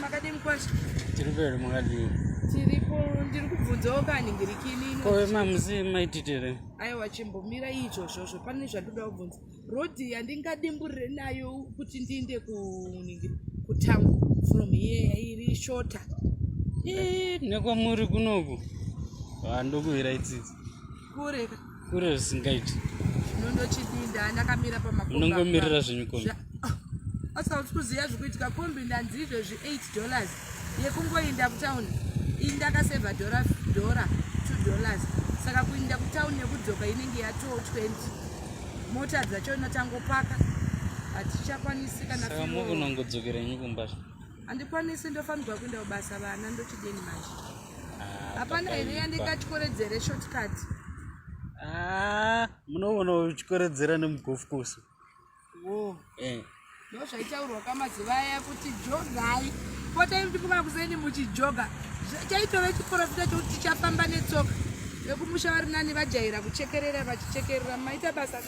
makadini kwacho tiri pere makadini tiripo ndiri kubvunzawo kaningirikini ko mamusi maititere aiwa chimbomira iizvozvozvo pane zvandoda kubvunza Rhodhi yandingadimburire nayo kuti ndiinde kuningiri kutown from here iri shorter. Eh, nekwamuri kunoku handokuhira itsitsi kure kure zvisingaiti nondochidinda ndakamira pamaknongomirira zvenyukombi ah, asauti kuziva zvikuitika kombi ndanzi izvezvi 8 dollars yekungoinda kutown iyi ndakaseva dhora dhora two dollars saka kuinda kutown nekudzoka inenge yatoo 20 mota dzacho inotangopaka hatichakwanisi kana unongodzokerenyi kumba handikwanisi ndofanirwa kuenda kubasa vana ndochideni manje ah, hapana here yandingatyikoredzere shortcut ah, munoona uchikoredzera nemugofkosi wo eh. ndo zvaitaurwa kamazuva aya kuti jogai potai kuti kuva kuseni muchijoga chaitove chiporofita chokuti tichafamba netsoka vekumusha vari nani vajaira kuchekerera vachichekerera maita basa